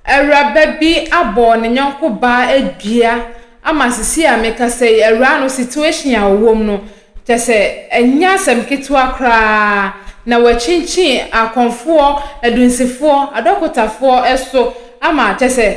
Awuraba bi abɔ ne yɔnko baa dua ama sisi a mekasa yi, awuraa no situation a ɔwɔ mu no, kyɛ sɛ ɛnyɛ asɛm ketewa koraa na wakyinkyin akɔmfoɔ, adunsifoɔ, adɔkotafoɔ so ama kyɛ sɛ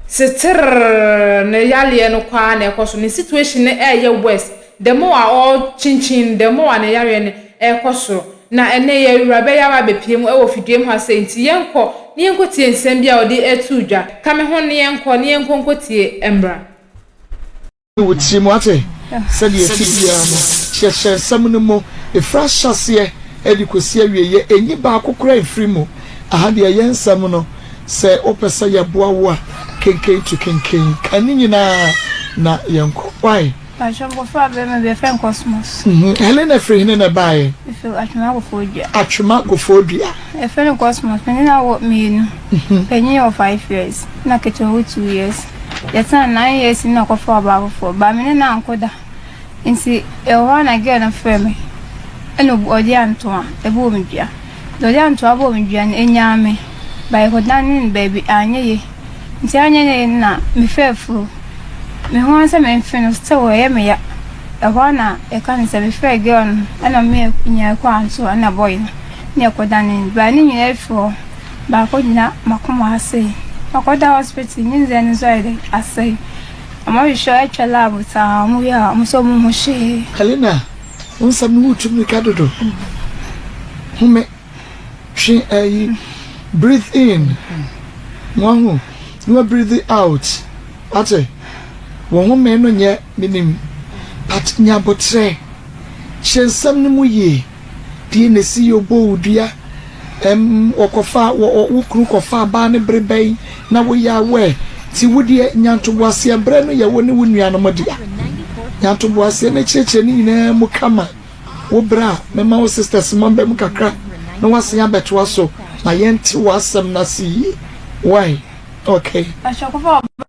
seterrr ne yareɛ no kɔ ara na ɛkɔ so, ne situation no ɛreyɛ worse. Dɛm a ɔrekyinkyin, dɛm a ne yareɛ no rekɔ soro. Na ɛnnɛ yɛ wura bɛyɛ ara bɛpue mu wɔ fidua mu ha sei, nti yɛnkɔ na yɛnkɔtie nsɛm bi a ɔde reto dwa. Ka me ho na yɛnkɔ na yɛnkɔ nkɔtie mmra. Yi wo tirim, wate? Sɛdeɛ ɛte biara no, kyerɛkyerɛ nsɛm no mu, ɛfiri ahyɛaseɛ de kɔsi awieeɛ, ɛnyi baako koraa mfiri mu. Aha deɛ ɛyɛ nsɛm no, sɛ wopɛ sɛ yɛboa wo a, kenkan tu kenkan. Kan ne nyinaa na yɛnkɔ. Wai? Mpakyɛw mbofra bɛrima bi a yɛfrɛ no Cosmos. Helena firi hene na ɛbaeɛ? Ɛfiri Atwema Kofoɔ Dua. Atwema Kofoɔ Dua. Yɛfrɛ no Cosmos. Me ne no awo mmienu. Mhm. Panyin wɔ five years, na ketewa wɔ two years. Yɛtena nine years mu na ɔkɔfa ɔbaa foforɔ. Ba me ne no anko da. Nti ɛwɔ hɔ a na girl no frɛ me, ɛna ɔde antoa, ɛbɔ me dua. Dɔdɛ a nto abɔɔ me dua no, enyaa me. Bae kɔdanee no baabi, anyɛ ye. Ntsi anyɛ ne ye na mefaa efur. Me ho ara sɛ memfe no, still ɔyɛ me ya. Hɔ ara na yɛka no sɛ mefrɛɛ girl no na ɔma me nyaa kɔr anso nna boy no na yɛkɔdanee no. Baa ne nyina efir hɔ, maakɔgyina m'akoma ase. Makɔda hospital, ne ndzɛɛ no so ayɛ dɛ asɛe. Wɔhwehwɛ, wɔtwa lab, tsaa, wɔwie a wɔse wɔnnhu hwee. Helena Wo nsɛm no wotu mmirika dodo. Home, twe ayi, breathe in, na wahu, na wa breathe out. Wate? Wo home no nyɛ menim, but nya aboterɛ. Kyerɛ nsɛm no mu yie. Deɛ na ɛsi yɛ obɔ wo dua. Ɛm wɔkɔfaa, wɔ ɔ wo kunu kɔfaa baa no bere bɛn na wo yaa wo ɛ? Nti wo deɛ nyantoboaseɛ berɛ no yɛ wo ne wo nuanom dea. Nyantoboaseɛ no akyerɛkyerɛ no nyinaa mu ka ma wo berɛ a mɛma wo sisters ma bɛ mu kakra na woasen abɛtoa so ma yɛnte w'asɛm no ase yie. Wai? Okay.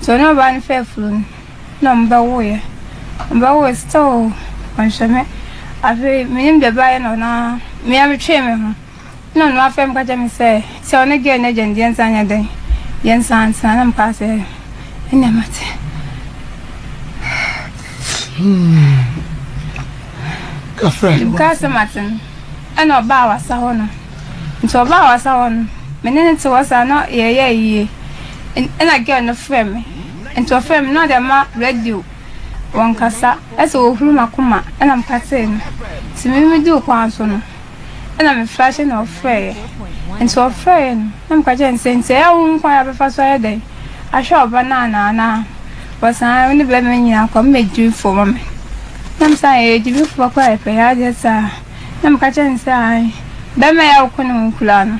So na ɔbaa no fɛ afunu no na ɔmo bɛ wo yɛ ɔmo bɛ wo yɛ still ɔn hwɛ me afei me nim deɛ bɛ ayɛ no na me a me twee me ho na ɔno afɛ me ka kyɛ me sɛ sɛ ɔne gɛɛ no agya no deɛ nsa nyɛ dɛn yɛ nsa ntena na me ka sɛ ɛnna ma te. Hmm. Kafra. Kaa sɛ ma te no ɛna ɔbaa wasa hɔ no. Nti ɔbaa w'asa hɔ no, me ne no te hɔ saa na yɛyɛɛ yie. Ɛna girl no frɛɛ me. Nti ɔfrɛɛ me na ɔde ama radio wɔ nkasa sɛ ɔhuru m'akoma ɛna meka tee no. Nti me me duu kwan so no ɛna me flashe na ɔfrɛeɛ. Nti ɔfrɛeɛ no na meka kyerɛɛ no sɛ nti ɛyɛ a wohu kwan a bɛfa so ayɛ dɛn ahwɛ ɔba no anaa anaa wɔsan wo ne bɛɛma no nyinaa kɔ a mo bɛ gyimifoɔ ma me. Na me sɛ aah yɛyɛ gyimifoɔ koraa yɛpɛ yɛn adeɛ saa. Na meka kyerɛɛ no sɛ, Aane, barima yi a woko ne ho kura no,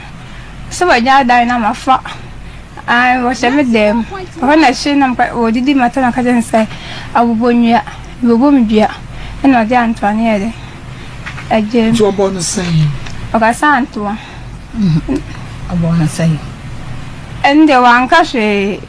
sɛ wagyaa dan no ama fa, aane, wɔhyɛ me dan mu, ɛhɔ na ɛhye na meka, wɔdidi mata na meka kyerɛɛ no sɛ, Abobɔ nnua, mebobɔ me dua, ɛna ɔde antoa no yɛɛ dɛn? Ɛgyaam. Nti wɔbɔɔ no sɛn? Ɔkasa antoa. Wɔbɔɔ no sɛn? Ɛno deɛ wanka hwee.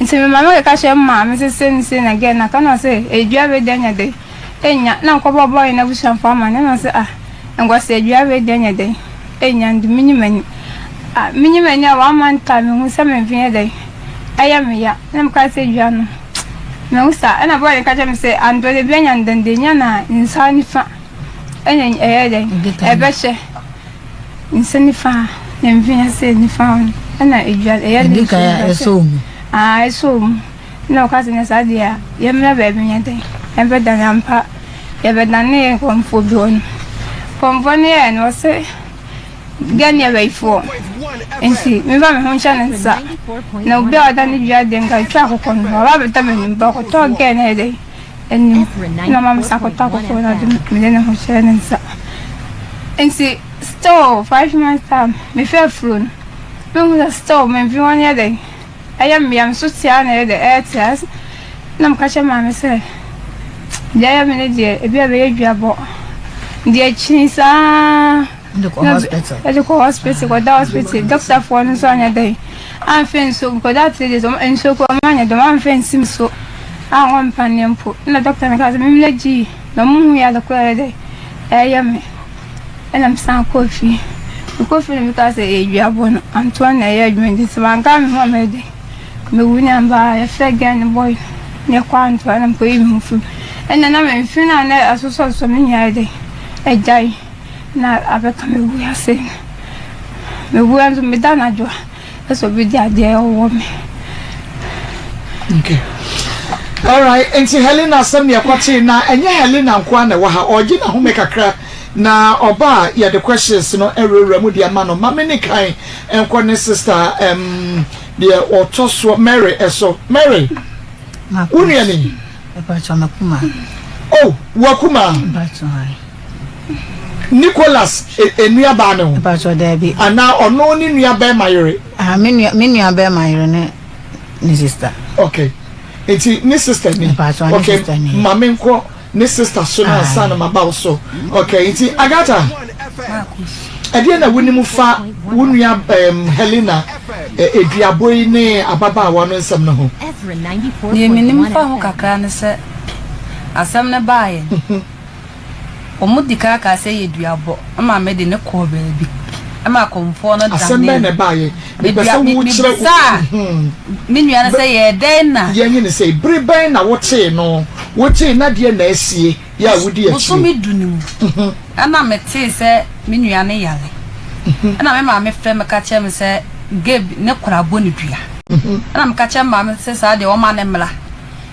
Ntsi me maame kɛka kyerɛɛ mo maame dze se ne se na gɛ na ka na se edua wei de anya dɛn enya na nkɔ bɔ bɔ hɛn abusuafo amanne na se ah nkɔ se edua wei de anya dɛn enya nde menye m'ani ah menye m'ani a wɔama no taa mehu sɛ me mfe yɛ dɛn ɛyɛ me ya na me ka se dua no mehu saa ɛna bɔɔl ne ka kyerɛ me se ande ɔde bi anya nde nde enya na nsa nifa ɛna ɛyɛ dɛn ɛbɛhyɛ. Nsa nifa na mfe ase nifa hɔ no ɛna edwa ɛyɛ ne Ɛdi kan a ɛsɔ mu. Aa ɛsɔ mu na ɔka sɛ na saa deɛ a yɛmmra baabi nyɛ dɛn yɛbɛdane ampa yɛbɛdane nkɔmfoɔ bi hɔ no nkɔmfoɔ no yɛɛ no ɔse get nearer ifoɔ nti memfa me ho nhyɛ ne nsa na obi a ɔda ne dwa deɛ nka twa akokɔ no ɔba bɛda m'anim ba ɔkɔtɔɔ gɛɛ na ɛdɛn anim na ɔma me sakota kɔkɔɔ na ɔde mede ne ho hyɛɛ ne nsa nti still five months time mefɛ afuro no mehu sɛ still memfe hɔ no yɛ dɛn ɛyɛ mmea me so tia na ɛyɛ dɛ ɛyɛ tia na meka kyɛ maame sɛ deɛ ɛyɛ me no deɛ ebi a bɛyɛ dwabɔ deɛ kyini saa Yɛde kɔ hospital. Yɛde kɔ hospital, kɔda hospital. Dɔktafoɔ no nso anyɛ dɛn. Amfa nsuo gu. Kɔda three days, wɔn nsuo kɔ, wɔn anyɛ dɛm. Amfa nsi mu so. A wɔn mpaneɛ mpo. Ɛna dɔkta no kaa sɛ, mimla gyi. Na wɔn hu yɛ adekora yɛ dɛn. Ɛyɛ me. Ɛna me san kɔɔ fie. Mekɔ fie na me kaa sɛ, ɛyɛ dua bɔ no. Antoa na ɛyɛ adwuma nti, sɛ wɔn ankaa me ho a mɛyɛ dɛn. Me wu ne amba a, yɛfrɛ gɛn ne bɔy. Ne kɔ antoa na me kɔ yi me ho firi mu. Ɛna na me mfe na na asosɔ asosɔ me nyɛ ayɛ dɛn. Ɛgyae. Na abɛka me wu ase me wu nso me da anadwo a ɛsɛ obi di adeɛ ɔwɔ me. Okay. Alright, nti Helena asɛm ne ɛkɔ tee na ɛnyɛ Helena nkoa na ɛwɔ ha ɔregye n'ahome kakra na ɔba a yɛde questions no awurawura mu de ama no ma me ne kan nkɔ ne sister um, deɛ ɔtɔ soɔ Mary so. Mary, wo nua ni? Oh, wakuma. Nicholas e, nuabaa ne ho? Mpatsɔ daabi. Anaa ɔno ne nuabɛrima yere? Ah, me nua, me nuabɛrima yere ne ne sister. Okay. Nti ne sister ni? Mpatsɔ ne okay. sister ni. Ma me nkɔ ne sister so na ansa na maba wo so. Okay, nti Agatha, ɛdeɛ na wonim fa wo nua um, Helena eduabo yi ne ababaawa no nsɛm no ho? Deɛ menim fa ho kakra ne sɛ asɛm no baeɛ. Wɔn di kan kaa sɛ yɛ dua bɔ ɛma me de ne kɔɔ baabi ɛma akɔmfoɔ no danee. Asɛm bɛn na ɛbaeɛ? Mepɛ sɛ wokyerɛ. Mebisaa me nua no sɛ yɛɛ dɛn na. Yɛnye no sɛ bere bɛn na wotee no? Wogyee na deɛ na asie yɛ a wodi akyire. Bosome du no mu ɛna metee sɛ me nua no yare ɛna me maame frɛ me ka kyerɛ me sɛ Gabe ne kora bɔ ne dua ɛna meka kyerɛ me maame sɛ saa deɛ wɔma no mmra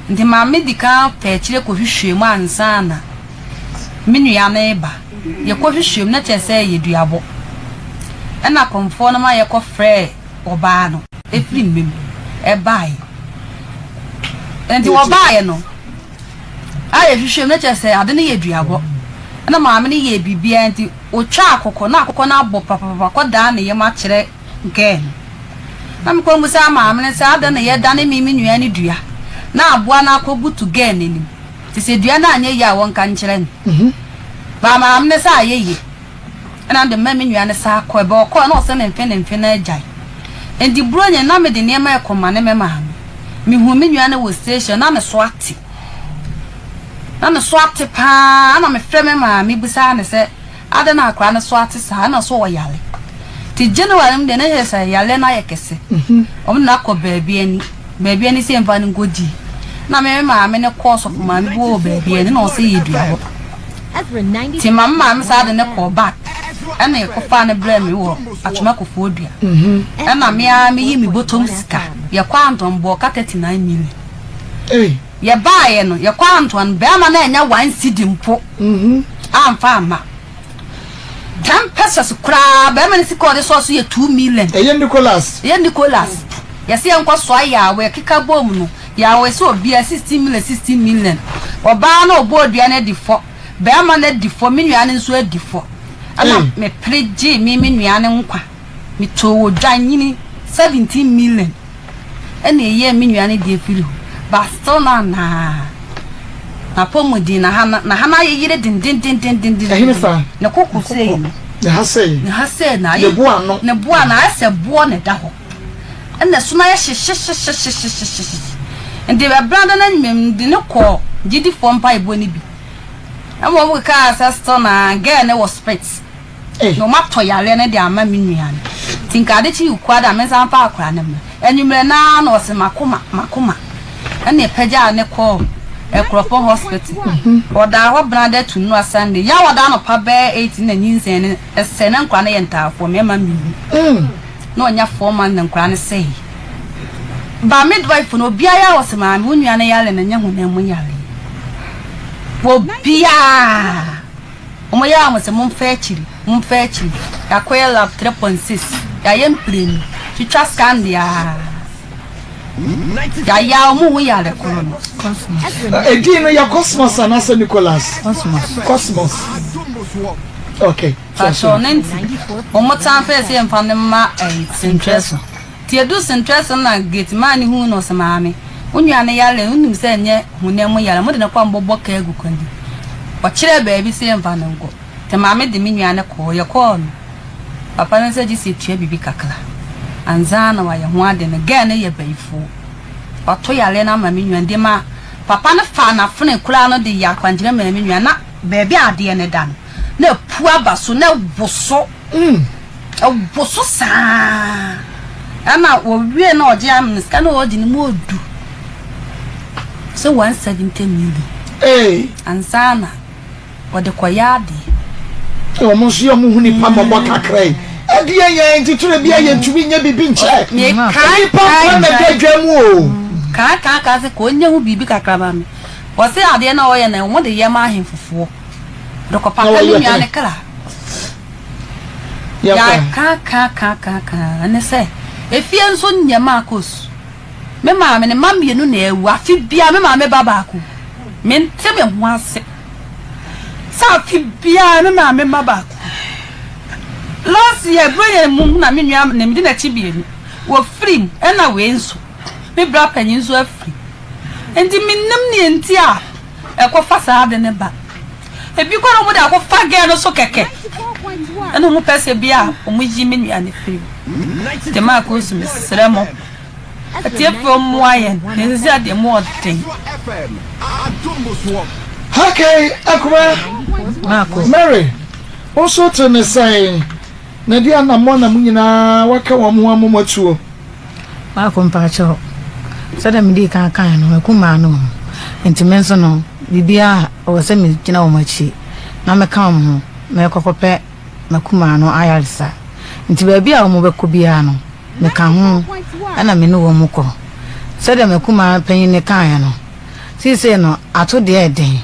Enti Maame di kan pɛ akyire kɔhwehwɛɛ mu ansa na me nua no reba. Yɛkɔhwehwɛɛ mu, na kyerɛ sɛ ɛyɛ duabɔ. Ɛnna akɔmfoɔ no ma yɛkɔfrɛɛ ɔbaa no. Ɛfiri mma mu baeɛ. Enti wɔbaeɛ no, a yɛhwehwɛɛ mu, na kyerɛ sɛ ade no yɛ duabɔ. Ɛnna Maame no yɛɛ biribiara, enti wɔtwaa akokɔ, na akokɔ no abɔ papapapa kɔdaa ne yam akyerɛ Gɛn. Na mekɔ mbisaa maame no sɛ adɛn na yɛdane me me nua no dua na aboa no akɔbutu Gɛn n'anim nti sɛ dua no anyɛ yie a wɔnka nkyerɛ no. Baa maame no sɛ ayɛ yie ɛna mede maa me nua no saa kɔɛ. Baa ɔkɔɛ na ɔse ne mfe ne mfe na agyae. Nti Buronya na mede nneɛma rekɔmane me maame. Mehuu me nua no wɔ station na ne so ate. Na ne so ate paa ɛna mefrɛ me maame bisaa no sɛ. Adɛn na akwadaa no so ate saa? Ɛna so ɔyare. Nti January mu deɛ na ɛyɛ sɛ yareɛ no ayɛ kɛse. Wɔn de no akɔ baabi ani. Baabi ani sɛ mfa no nkɔdi. Na me maame no kɔɔ sɔfo maame bi wɔ baabi ani na ɔsɛ yɛdua hɔ. Nti ma me maame saa de no kɔɔ bag. Ɛna yɛkɔfaa no brɛɛ me wɔ Atwema Kofoɔ Dua. Ɛna me ara meyi me bɔtɔm sika. Yɛkɔɔ Anton bɔɔ ka 39 million. Yɛbaeɛ no, yɛkɔɔ Antoine no, barima no annya one cedi mpo amfa amma. Ten pesos koraa, barima no sika a ɔde soa so yɛ two million. Ɛyɛ Nicolas. Ɛyɛ Nicolas. Yɛse yɛnkɔ soa Yaawa, yɛkeka boom no, Yaawa se obiara sixteen million, sixteen million. Ɔbaa no a ɔbɔɔ dua no adi fɔ, barima no adi fɔ, me nua no nso adi fɔ. Ɛna mepere gyee me me nua no nkwa, metoo odwanyini seventeen million. ɛna ɛyɛɛ me nua no deɛ firi hɔ but still na anaa n'apɔmuden na ha na ha na ayeyere dendendendenden ɛhene saa ne koko sei no ne ha sei ne ha sei na ayɛ ne boa no ne boa na ayɛ sɛ boɔ na ɛda hɔ ɛna ɛso na ayɛ hyehyehyehyehyehyehye nti ɛbɛn da na nyimam de ne kɔ gyidifoɔ mpa ebo no bi ɛma wɔn keka sɛ still na girl ne wɔ spits. na ɔmo atɔ yareɛ no de ama me nua no nti nka ade kye yi koraa de a me nsa mfa akora no mmra anwummerɛ no ara na ɔse makoma makoma ɛna ɛpagyaa ne kɔɔ Ɛkorɔpɔ hospital ɔdaa hɔ benada to nnura Sunday yɛ a ɔda anɔpa bɛyɛ eight na nyinsɛn no ɛsɛe na nkora no yɛ ntaafoɔ me ɛma me hu na ɔnya four months na nkora no sɛe ba midwife no obiara yɛ a ɔse maame wo nua no yare no nyɛ honam mu yareɛ obiara Ɔmo yɛɛ ahosɛ momfa akyiri momfa akyiri Yɛakɔyɛ lap three point six Yɛayɛ mprenu twitwa scan deaa Yɛayɛ a ɔmo hu yare koro no Cosmos Edin no yɛ Cosmos anaasɛ Nicholas? Cosmos Cosmos ok Pakyɛw ne nti ɔmo tan pɛɛ sɛ yɛmfa no mma ɛyi sentwerɛ so. Tsie do senterɛse na Getsemane hun no ɔse Maame, wo nua no yar ɛ, nnim sɛ nnyɛ honam mu yar, mode no kɔ a mobɔbɔ ka agu kwan mu. Ɔkyerɛɛ baabi se yɛmfa no nkɔ, nti Maame de me nua no kɔɔ. Yɛkɔɔ no, Papa no sɛ gyese etua biribi kakra ansaana ɔayɛ ho ade no, girl no yɛ bayifoo, ɔto yare no ama me nua no, de ma Papa no faa n'afenee koraa no de yɛ akwankyerɛ maa me nua na baabi a adeɛ no da no. Na apu aba so na awoso, awoso saa na wɔwie na ɔgye amene sika na ɔgye ne mu ɔdu sɛ 170 million ansa na ɔde kɔyɛ adeɛ. Wɔn nso yɛ wɔn ho nipa ma ɔbɔ kakra yi. Ɛdeɛ yɛn titire bi a yɛntumi nyɛ biribi nkyɛ. Nipa kwan na ɛda dwa mu o. Kaa kaa kaa sɛ ka ɔnyɛ ho biribi kakra ma me. Wɔse adeɛ na ɔyɛ na wɔn de yɛ ma ahenfofoɔ. Dɔkɔpapa ne nua ne kra. Yɛakaakaakaakaaka ne sɛ efie nso nneɛma akɔ su. Me maame ne mma mmienu na awu afe biara me maame ba baako. Mente me ho ase sɛ afe biara me maame mma baako. Last year bere yɛn mu na me nua na medi n'akyi mmienu wɔfiri mu ɛna wei nso me bra panyin nso afiri nti menim nea nti a ɛkɔfa saa ade no ba. Ebi koraa wɔde akɔfa girl no so kɛkɛ. Ɛna wɔn pɛ sɛ bi a wɔyi me nua no firi mu. Jamaa Kurusu mesrɛ mo atiefoɔ mmoa yɛn na sisi adeɛ mu ɔden. Hakae Akumaa Mary wo nso te ne sɛn? Na di anammɔn na mo nyinaa wɔaka wɔn ho amom atuo. Baako mpaakyɛw, sɛdeɛ medii kan kaeɛ no, akumaa no wɔ mu, enti me nso no, biribiara a ɛwɔ sɛ megyina wɔn akyi na meka wɔn ho, merekɔ kɔpɛ m'akumaa no ayaresa. Enti baabi a wɔbɛkɔ biara no, meka ho na me ne wɔn kɔ. Sɛdeɛ m'akumaa panyin no kaeɛ no, seesei no, ato deɛ ɛyɛ den.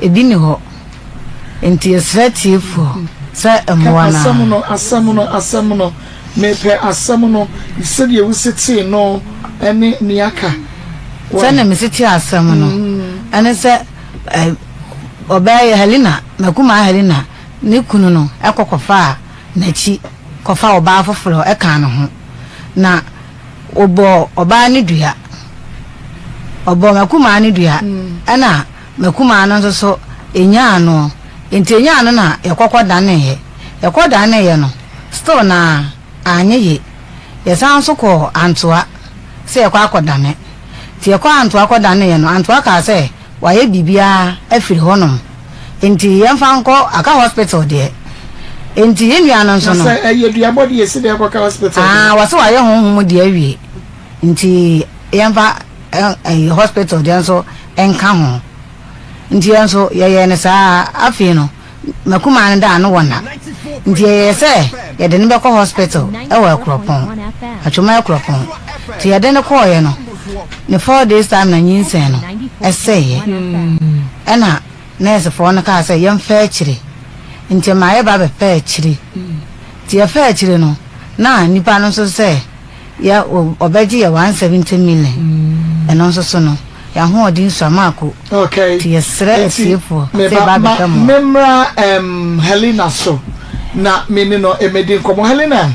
Ebi nni hɔ. Enti yɛsrɛ atiefo sɛ mmoa no ara. Ka asɛm no, asɛm no, asɛm no. Mepɛ asɛm no, sɛdeɛ wosi tee no ne nea aka. Sɛdeɛ mesi tee asɛm no ne sɛ ɔbaa yi, Helena, m'akumaa Helena, ne kunu no kɔ kɔfaa n'akyi kɔfaa ɔbaa foforɔ kaa ne ho, na. Wɔbɔɔ ɔbaa no dua. Wɔbɔɔ m'akumaa no dua, ɛna m'akumaa no nso so ɛnyaa no. Nti ɛnyaa no na yɛkɔkɔ daneeɛ. Yɛkɔ daneeɛ no, still na anyɛ ye. Yɛsan nso kɔɔ Antoa sɛ yɛkɔ akɔdane. Nti yɛkɔɔ Antoa kɔdaneeɛ no, Antoa kaa sɛ, Wayɛ biribiara afiri hɔ nom nti yɛn fa nkɔ aka hospital deɛ nti yɛn nua no nso no. Na sɛ ɛyɛ duabɔ deɛ si deɛ ɛkɔ ka hospital deɛ. Aa wɔsi wayɛ honhom deɛ awie nti yɛn fa ɛyɛ hospital deɛ nso nka ho nti yɛn nso yɛyɛ ne saa afei no. M'akumaa no da ano wɔ nna, nti ɛyɛɛ sɛ yɛde no bɛkɔ hospital wɔ Akuropɔn, Atwom Akuropɔn. Nti yɛde no kɔɔeɛ no, ne four days time na nyinsɛn no sɛeɛ. Ɛna nɛɛsefoɔ no kaa sɛ yɛmfa akyire, nti ɛmaa yɛba bɛfaa akyire. Nti yɛfaa akyire no, na nnipa no nso sɛ. Yɛ o, ɔbɛgye yɛ one seventy million, ɛno nso so no, yɛ ahoɔden sua maako, Okay, nti yɛsrɛ nti atiefoɔ sɛ meba yɛba ma abɛka mu a. me mmra ɛm Helena so na me ne no ɛmɛdi nkɔmɔ. Helena,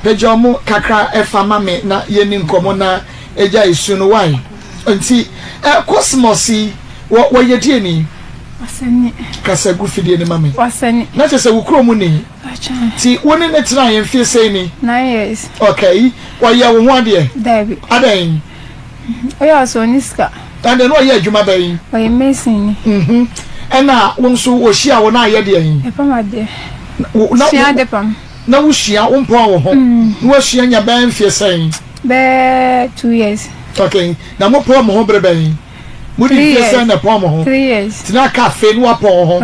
pagya ɔmo kakra ɛfa ma me na yɛni nkɔmɔ na ɛgya ɛsu no wai? Nti ɛ Cosmos yi wɔ wɔyɛ deɛni? Kasa gu fidie no ma me. Na kyerɛ sɛ wo kurom ni? Nti wo ne no tenaeɛ mfeɛ sei ni? Nine years. Okay. Ɔyɛ wo ho adeɛ? Daabi. Adɛn? Ɔyɛ ɔsɛ ɔne sika. Ɛnna na ɔyɛ adwuma bɛn? Ɔyɛ mason ni. Ɛnna wo nso ɔhyia wo na ayɛ deɛn? Ɛpam adeɛ. Sua ade pam. Na wosua, wompɔn wo ho. Na woasua nya bɛyɛ mfeɛ sɛn? Bɛyɛ two years. Okay. Na mopɔɔ mo ho bere bɛn? Mo ne mfie sɛn na ɛpɔn mo ho? Tena cafe na wapɔn wo ho.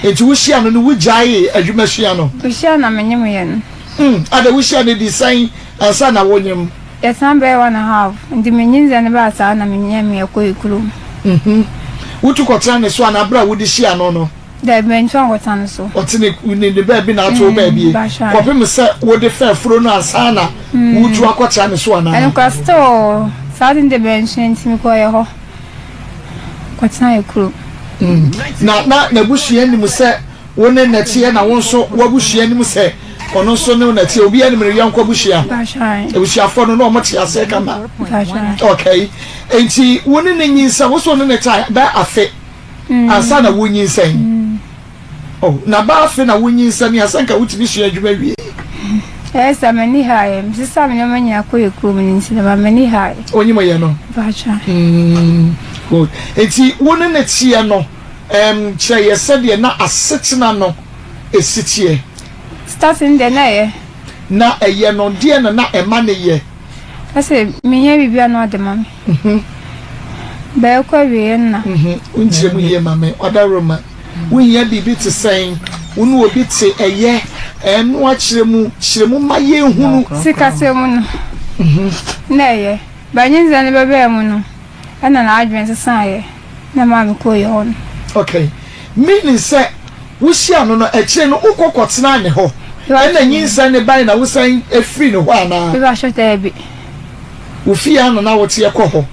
Enti wo hyia no no wo gyaee adwuma sua no? Ohyia na me ne mo yɛ no. Umm adɛn wo hyia no ɛdi sɛn ansa na wo nyem? Yɛtena bɛyɛ one and half nti me nyinsɛn no baa saa na me nyɛmee kɔe kurom. Mmhmm. Wo tu kɔtena ne so anaa bere a wo de hyia no no? Daabi, mentwa nkɔta no so. Ɔte ne ku ne ne baabi na ato wo baabie Basha. kɔpem sɛ wode fɛ afuro no ansa na woretu akɔtra ne so anaa? Ɛnokwa still o, saa de no deɛ bɛnhwɛ nti mekɔɔeɛ hɔ kɔtenaeɛ kurom. Na na n'abusua nim sɛ wo ne no teɛ na wo nso w'abusua nim sɛ ɔno nso ne wo na ɛteɛ? Obiara nim ne yɔnko abusua? Basha. Abusuafoɔ no na wɔte aseɛ kama? Basha. Okay, enti wo ne no nyinsɛn, wo so wo ne no trae bɛyɛ afe? ansa na wunyinsɛn. Oh, na ba afe na wunyinsɛn a, sɛ nka wutumi sua adwuma wie. Ɛyɛ sɛ m'ani ha yɛ. Mesesa me nneɛma nyinaa kɔ yɛ kurom no nti na ma m'ani ha yɛ. Onyim yɛ no? Mpakyɛ. Mm, good. Enti wo ne ne teɛ no, um, kyerɛ yɛ sɛdeɛ na asetena no esi teɛ. Starting deɛ na ɛyɛ. Na ɛyɛ no, deɛ na na ɛma ne yɛ? Ɛsɛ menyɛ biribi a na ɔde ma me. Mhm. Bɛɛkɔ awieyɛ nna. Mhm. Wo nkyerɛ mu yie ma me, Ɔdawuroma. Wo hia biribi te sɛn? Wo ne obi te, ɛyɛ? Ɛɛ, no akyerɛ mu, kyerɛ mu ma yɛn hunu. Sikasɛm mu no, Mhm. na ɛyɛ. But nye dza no bɛbae mu no, nna n'adwen sesãeɛ, na maa me kɔɔ yɛhɔ no. Okay. Meaning sɛ, wo hyia no no, akyire no wo kɔ kɔ tenaa ne hɔ, ɛna nyinsɛn no bae na wo san firii ne hɔ anaa? Mepakyɛw, daabi. Wo fie ara na na woteɛ kɔ hɔ.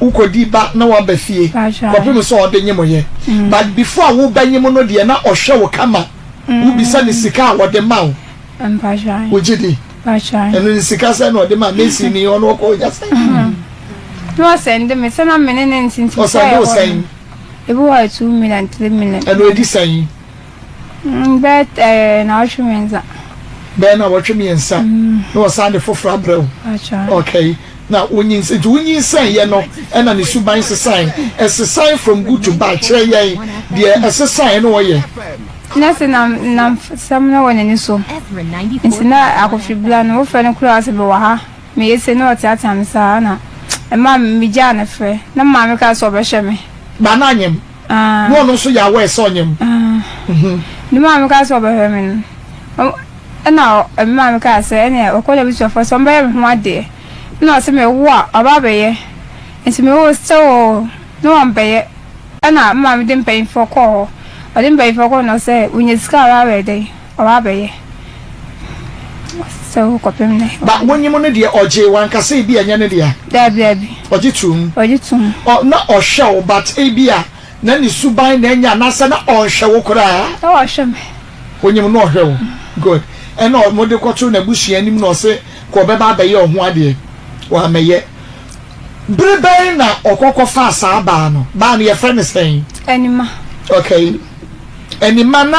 Wokɔdi ba na woaba fie kɔpem sɛ ɔde nyem yɛ. But before a woba nyem no deɛ na ɔhwɛ wo kama. Wobisa no sika a ɔde ma wo. Wogye di? Ɛno no sika sɛn na ɔde ma Mesi ni ɔno ɔkɔ ɔnya sɛn? Na ɔsɛnde me sɛ na me ne no nte nti sɛ ɛhɔ no. Ɔsɛnde wo sɛn? Ebi wɔ hɔ a two million, three million. Ɛno ɛdi sɛn? Bɛyɛ nnawɔtwe mmiɛnsa. Bɛyɛ nnawɔtwe mmiɛnsa na wɔsan de foforɔ abrɛ wo. Okay na wonyinsɛn nti wonyinsɛn yɛ no ɛna ne suban sesae ɛsesae from good to bad kyerɛ yɛn deɛ ɛsesae na ɔyɛ. Na sɛ nam nam sɛm na wɔ n'ani so nti na akɔfiri bla no wofrɛ no koraa sɛ bɛwɔ ha meyɛ sɛ na ɔteatea me saa na ɛma megyaa ne frɛ na maame kaa sɛ ɔbɛhwɛ me. Ba na anyem. na ɔno nso yɛ aware sɛ ɔnyɛ mu. Ne maame kaa sɛ ɔbɛhwɛ me no, ɛna me maame kaa sɛ ɛneɛ ɔkɔ n'abusuafoɔ sɛ ɔmbɛyɛ me ho adeɛ, ɛna ɔse mewo a ɔba abɛyɛ, nti mewo sɛ oo ne wɔmbɛyɛ, ɛna me maame de mpaninfoɔ kɔɔ hɔ, ɔde mpaninfoɔ kɔɔ hɔ na ɔsɛ wonya sika a ɔbɛyɛ dɛn. Ɔwɔ abɛyɛ sɛ wo kɔpem nɛ. Ba wonyim no deɛ ɔgye wankasa ebi a ɛnyɛ ne dea. Daabi daabi. Ɔgye tom. Ɔgye tom. Ɔ na ɔhwɛ wo but ebi a na ne suban na ɛnyɛ anaasɛ na ɔnhwɛ wo koraa. Na ɔhwɛ me. Wonyim no ɔhwɛ wo good ɛna ɔ mode kɔto n'abusua anim na ɔse kɔ ɔbɛba abɛyɛ ɔho adeɛ wammɛyɛ. Bere bɛn na ɔkɔ kɔfaa saa baa no? Baa no yɛfrɛ no sɛn? Anima. Okay Anima na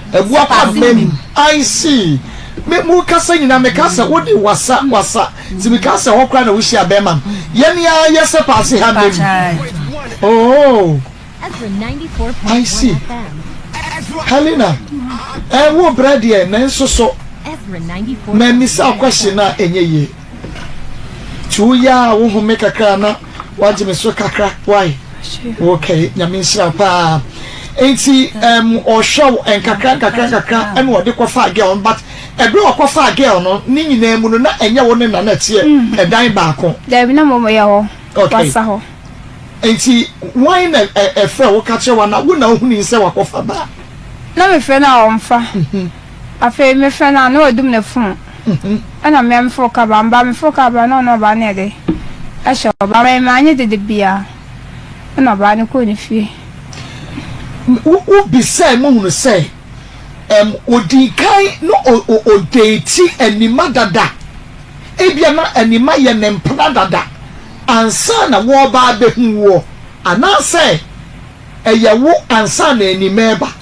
Ɛboa pa mma mu. I see. Me mo kasa nyina me ka sɛ wo de wasa wasa ti me ka sɛ hɔ koraa na wo hyia bɛɛma no yɛ ne aa yɛ sɛ paase ha mma mu ooh I see Helena ɛɛ wo brɛ deɛ nanso so mɛ misa question a ɛnyɛ yie. Nti wo yɛ a wo home kakra na wagye me so kakra why okay nyame nhyira paa nti um, ɔhwɛ wo nkakra nkakra nkakra ɛna ɔde kɔfaa girl no but ɛberɛ ɔkɔfaa girl no ne nyinaa mu no na ɛnyɛ wo ne na na ɛteɛ mm-hmm. ɛdan baako daabi na mmɔmɔ yɛ hɔ wasa hɔ nti wan na ɛfrɛ wo ka kyerɛ wa na wo na wohuni sɛ wakɔfa baa na mefrɛ no a ɔmfa mm-hmm. afei mefrɛ no a na wadum ne fon Ɛna me a me foro kaba me ba me foro kaba na ɔne ɔbaa no yɛ dɛ ɛhyɛ ɔbaa me maa nye dede bia ɛna ɔbaa no kɔɔ ne fie. Wo wo bisaɛ mo hunu sɛ ɛm ɔdii kan no o o ɔdeti Anima dada ebia na Anima yɛ ne mpena dada ansa na wɔɔba abɛhu woɔ anaasɛ ɛyɛ wo ansa na Anima ɛba.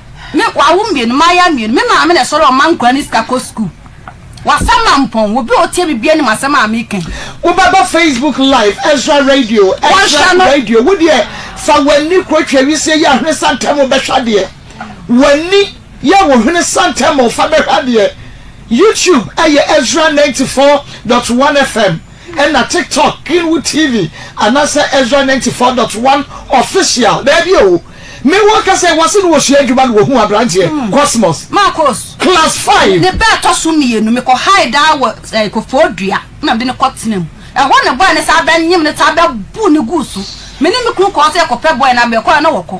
Me wawo mmienu, mayaa mmienu. Me maame na ɛsɔre ɔma nkwadaa no sika kɔ sukuu. W'asɛm ma mpɔn. Obi a ɔtie biribi anim asɛm a meka yi. Wobɛba Facebook live Ezra radio Ezra radio wo deɛ fa w'ani kuro twɛ wisie yɛ ahwene santɛmo bɛhwɛ adeɛ w'ani yɛ wo hwene santɛmo fa bɛhwɛ adeɛ YouTube ɛyɛ Ezra ninety four dot one FM. Ɛna tiktok kenwu tv anasɛ Ezra ninety four dot one official daabi oo me wɔ ka sɛ wɔse no wɔsua adwuma no wɔhuu abranteɛ cosmos class five. Ne ba ɛtɔ so mmienu me kɔ hae daa wɔ eh kofoo dua na mede no kɔ tena mu ɛhɔ ne boy no saa bɛ nyem no saa bɛ bu no guu so me ne me kunu kɔɔ sɛ yɛkɔ pɛ boy no abɛ kɔ a na wɔkɔ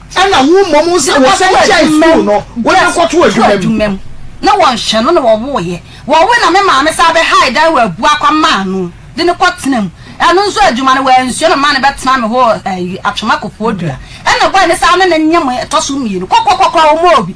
Ɛna wo mmom wo sɛ wo sɛ gyae sukuu no wo ne no kɔ to adwuma mu. Ne wɔ nhwɛ no na wɔ woo yɛ. Wɔ we na me maame saa bɛ hae dan wɔ abua kwa maa no de no kɔ tena mu. Ɛno nso adwuma no wɔ ansua na maa no bɛ tena me hɔ wɔ atwoma kokoɔ dua. Ɛna bɔe no saa ne no nyɛ mo ɛtɔ so mmienu. Kɔkɔ kɔkɔ wɔ mo obi.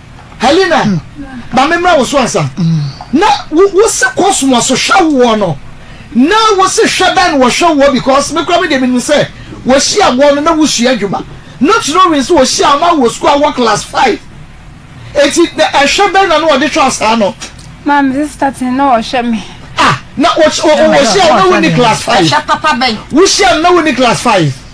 Helena, ma memmra wo so ansa. Na wose kɔ soa so hwɛ woɔ no, na wose hwɛ bɛn na wɔhwɛ woɔ because me koraa me deɛ menim sɛ wɔhyia woɔ no na wosua adwuma. Not knowing sɛ wɔhyia wo na wowɔ sukuu a wowɔ class five. Enti na ɛhwɛ bɛn na na wɔde hwɛ wo saa no? Maa me sister ten na wɔhwɛ me. Ah, na wɔhyia wo na wonni class five? Wohyia no na wonni class five?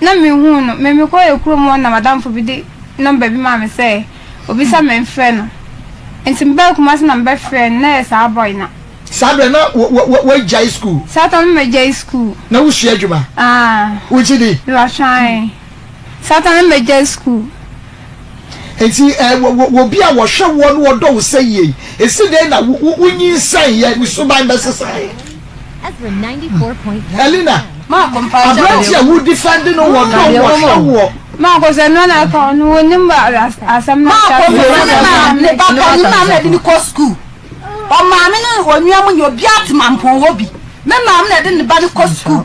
Na menhuu no. Me mekɔɔɛ kurom hɔ na m'adamfo bi de nɔmba bi maa me sɛ obisa me mfrɛ no. Nti mebaa Kumasi na mebɛfrɛɛ no, na ɛyɛ saa bɔy na. Saa berɛ na w'agyae sukuu? Saa tam no m'agyae sukuu. Na wosua adwuma? Aah. Wogye di? Mewɔ twaee. Saa tam no m'agyae sukuu. Enti, eh, wɔ, wɔ, wɔ obi a wɔhwɛ woɔ na ɔdɔ wo sɛ yie yi, esi dɛn na wo, wo, wonyinsɛneeɛ, ne suban bɛsesaeɛ? Elena, aberante a wodifɛnde no wɔ dɔ mu, ɔhwɛ woɔ. Marcos, ɛno na ɛka ɔno, wonim asɛm no ahyɛ aseɛ. Marcos, ne maame, ne papa, ne maame na de no kɔ sukuu. Ɔmaame ne onua mu nyɛ obiara te mampɔn hɔ bi. Me maame na de ne ba no kɔ sukuu.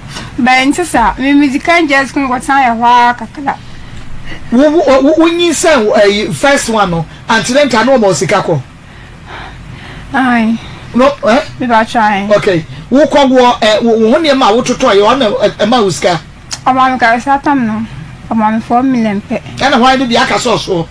But nte saa. Me medzi kan gyae skuul kɔtsena yɛ hɔ ara kakra. Wo wo wo nyinsan ɛyi first one no ankyerɛ nka na ɔma wo sika kɔ? Ae. No eh? Mepakyɛ ae. Okay. Wo kɔ woɔ ɛ wo wo ho nneɛma a wo totɔ yɛ ɔna ɛ ɛma wo sika? Ɔma me kasatam no ɔma me four million pɛ. Ɛna hwan de deɛ aka sɛ ɔsoɔ?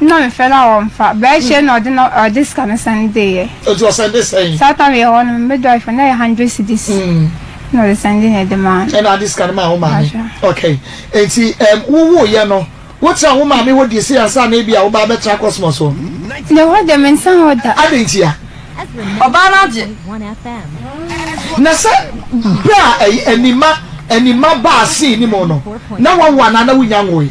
Nna mefɛr no a wɔmmfa. Bɛrkyɛ na ɔdze no ɔdze sika no sɛn dee yɛ. Ɔdze ɔsɛn dee sɛn? Saa tam yɛ hɔ no me dɔefo na yɛ hundred cedis na ɔdze sɛn dee na ɛdze maa no. Ɛna ɔdze sika no maa wo maame. Mpakyɛw. Okay. Ntsi ɛɛm wo woo yɛ no wo traa wo maame hɔ dii sei ansa na ebi a wo baa bɛ traa Cosmos hɔ? Ne hɔ dɛ me nnsan hɔ da. Adɛn ntia? Ɔbaa no agye. Na sɛ bɛ a ɛyi ɛnima ɛnima baa scene no mu no na wawo anaa na wo nnya nwoe?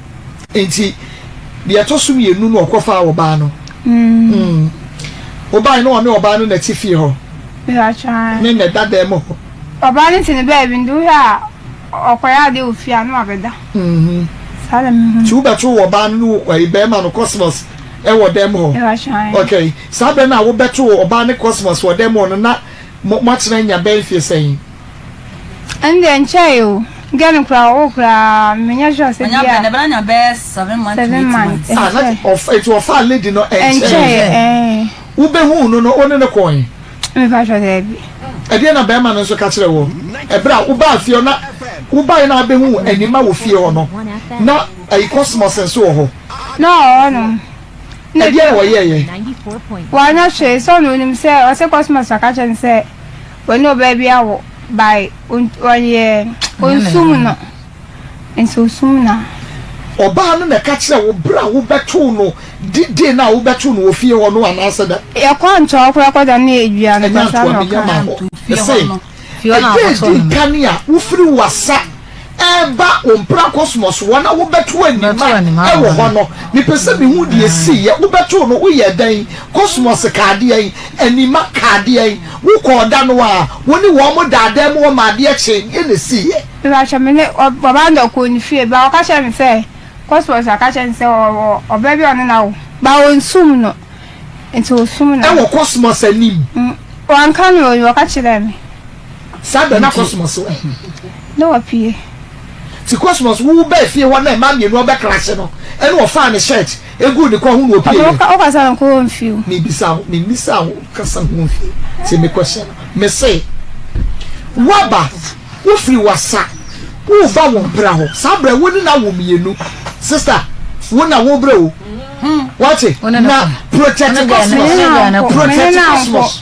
Enti deɛ ɛtɔ so mmienu no ɔkɔfaa ɔbaa no. Wobae no ɔne ɔbaa no na ɛte fie hɔ ne na ɛda dan mu hɔ. Ɔbaa no te ne baabi nti wohwɛ a ɔkɔyɛ adeɛ wɔ fie a na wabɛda. Saa na mehu no. Nti wobɛto ɔbaa no ne ɛyi bɛrima no kɔsmɔs ɛwɔ dan mu hɔ. Okay, saa berɛ no a wobɛto ɔbaa ne kɔsmɔs wɔ dan mu hɔ no na moatena anya bɛyɛ mfie sɛn? Ɛndeɛ nkyɛe o, nka no koraa ɔwo koraa menyɛ sure sɛ bia Ɔnya bɛn ɛbɛn anya bɛyɛ seven months to eight months. Ah na ɔfa eti ɔfaa lady no ɛnkyɛe ɛɛ. Wo bɛ huu no no wo ne no kɔɔ he? Me pa kyɛw daabi. Ɛdeɛn na bɛɛma no nso ka kyerɛ woɔ ɛberɛ a wo baa fie hɔ na wo baeɛ na abɛ huu anima wɔ fie hɔ no na ayi cosmos nso wɔ hɔ. Na ɔwɔ hɔ nom. Ɛdeɛn na ɔyɛɛyɛ? Wanyɛ hwee sɛ ɔno onim sɛ ɔse cosmos aka kyerɛ no sɛ Wɔne ɔbaa bi awo by ɔyɛ ɔnsum no nti ɔsum no a. Ɔbaa no na ɛka kyerɛ wo berɛ a wobɛtoo no di day no a wobɛtoo no wɔ fie hɔ no anaasɛ dɛn? Yɛkɔ ntoa koraa kɔda no yɛ dua no Ɛnyɛ ntoa menya ma hɔ Ɛsɛ ɛdee di nkan a wofiri wasa. reba wo mpena Cosmos hɔ na wobɛto anim a ɛwɔ hɔ no, mepɛ sɛ mehu deɛ ɛsiiɛ. Wobɛtoo no? Woyɛɛ dɛn? Cosmos kaa deɛn? Anima kaa deɛn? Wokɔɔ da no ara? Wo ne wɔn mo daa dan mu hɔ ma adeɛ kyee? Deɛn na ɛsiiɛ? Mepakyɛ me ne ɔbaa no da kɔɔ ne fie but ɔka kyerɛɛ me sɛ Cosmos aka kyerɛ no sɛ ɔwɔ ɔbaa bi a ɔne no awo but ɔnsum no nti ɔsum no. Ɛwɔ Cosmos anim? Wanka no o, ɔka kyerɛɛ me. Saa da na Cosmos wɔ he? Na wapue. Ti Cosmos wo bɛɛ fie hɔ na mmaa mmienu ɔbɛ clash no ɛna ɔfaa ne shirt eguu ne kɔn ho na opie yɛ. Ɔno ɔkasa no nkɔ wɔn fie o. Me bisa wo, me misa wo kasa ho wɔn fie tie me question no me se waba wo firi wasa wo ba wɔn pira hɔ saa brɛ wo ne na wo mmienu sister wo na wo brɛ o wate na protect Cosmos protect Cosmos.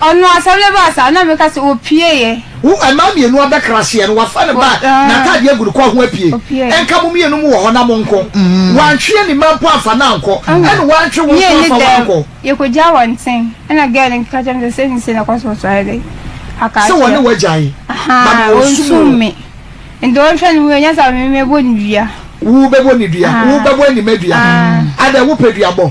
Ɔno asɛm no baa saa na meka sɛ, Ɔpieeɛ. Wo mmaa mmienu abɛkraseɛ no, wafa ne bag na atadeɛ agu ne kɔn ho apue. Ɛnka mo mmienu mo wɔ hɔ na monko. Wantwe ani mma mpo amfa no ankɔ, ɛna wantwe wo nso amfa wo ankɔ. Yɛkɔgyaa wɔn nkyɛn, ɛna girl no ka kyerɛɛ me sɛ, Sei ne sei na ɛkɔ so wɔ Sɔhɛ dɛn? Aka akyerɛ. Sɛ wɔne wo agyae? Ahaa, ɔnsum me. Nti ɔnhwɛ ne ho yie, ɛnyɛ saa a me mɛbɔ no dua. Wobɛbɔ ne dua? Wobɛbɔ Anima dua? Adɛn, wopɛ duabɔ?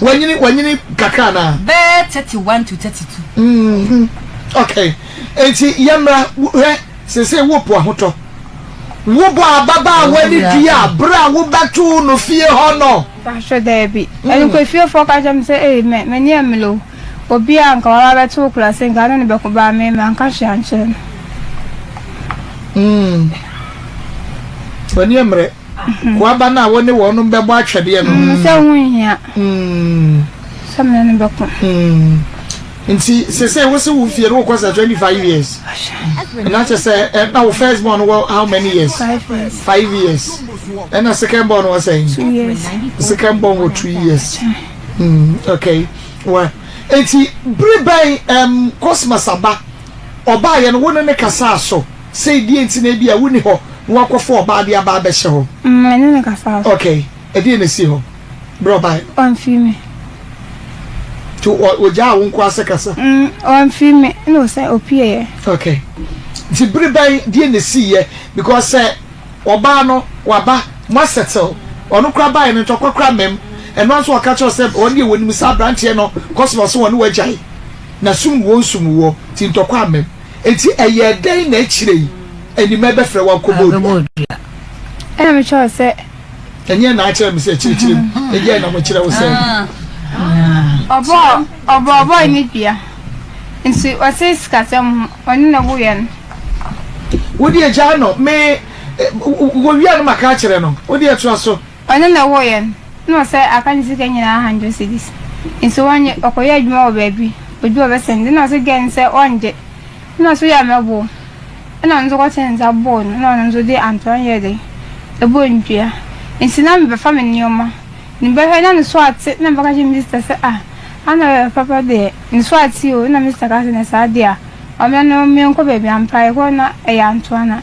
wanyini wanyini kakra anaa. bɛɛ thirty one to thirty two. Mm-hmm. okay nti yɛmmra hwɛ sese wopo ahotɔ wobɔ ababaawa ne dua bere a wobɛtoo no fie hɔ no. ahwɛ daabi mm. ɛno kɔ efiefoɔ ka kyerɛ me sɛ ee mɛ m'ani ɛmelo obi a nka waba bɛto wo kura se nka ne ne bɛko baa me ma nka hwee ankyerɛ no. Mm. w'ani ɛmmerɛ. Koaba no a wo ne wɔnom bɛbɔ atwɛdeɛ no. Mm, sɛ ho nhia. Mm. Sɛ mene no bɛko. Mm. Nti sese wo se wo fie no wokɔ sɛ 25 years. Na kyɛ sɛ eh, na wo first born wɔ how many years? Five years. Ɛna second born wɔ sɛ? Two years. Second born wɔ two years. Mm, okay. Wa. Nti bere bɛn um, Cosmas aba ɔbaayɛ no wo ne ne kasaa so? Say deɛ nti na ebia wonni hɔ na woakɔfa ɔbaa de aba abɛhyɛ hɔ? Mm, me ne no kasaa so. Okay, ɛdeɛn na ɛsii hɔ berɛ a ɔbaeɛ no? Wamfiri me. Nti ɔ, ɔgyaa wo nko ara sɛ kasa? Mm, wamfiri me, ɛna ɔsan, ɔpueeɛ. Okay. Nti bere bɛn, deɛn na ɛsiiɛ? Because sɛ ɔbaa no, waba, moasɛttle, ɔno koraa baeɛ no, ntɔkwa koraa mmam. Ɛno ara nso na ɔka kyerɛ wo sɛ wɔn deɛ wɔnim saa aberanteɛ no, cause na ɔse wɔne wo agyae, na sum wuo nsum wuo, nti ntɔkwa ammam. Enti ɛyɛɛ dɛn na akyire yi Animɛ bɛfrɛɛ wo akɔbɔ dua? Ɛnna mekyerɛɛ wo sɛ. Ɛnyɛ na akyerɛ me sɛ kyerɛkyerɛ mu. Ɛdeɛn na mokyerɛ wo sɛ. Ɔbɔɔ ɔbɔɔbɔe ne dua. Nti ɔte sikasɛm ho, ɔne na woyɛ no. Wodeɛ gyaa no, me. Wɔwia no maka akyerɛ no, wodeɛ toa so. Ɔno na ɔwoo yɛn, na ɔsɛe aka ne sika nyinaa hundred cedis. Nso wannye, ɔkɔyɛɛ adwuma wɔ baabi, oduu ɔbɛsen de na ɔse gɛn no sɛ ɔngye. Ɛna ɔse woyɛ mmɛboo. Ɛna ɔno nso kɔtee nsa boo no na ɔno nso de antoa no yɛɛ dɛn? Ɛbɔɔ no dua. Nti na mebɛfa me nneɛma, ne bɛhwɛ na ne so ate na mebɛka kyerɛ Mister sɛ ah, ana ɔyɛ papa deɛ, ne so ate o, ɛna Mister ka sɛ nɛ saa deɛ a, ɔmmra na ɔmmɛnkɔ baabi ampa yɛkɔɔ no na ɛyɛ antoa no a.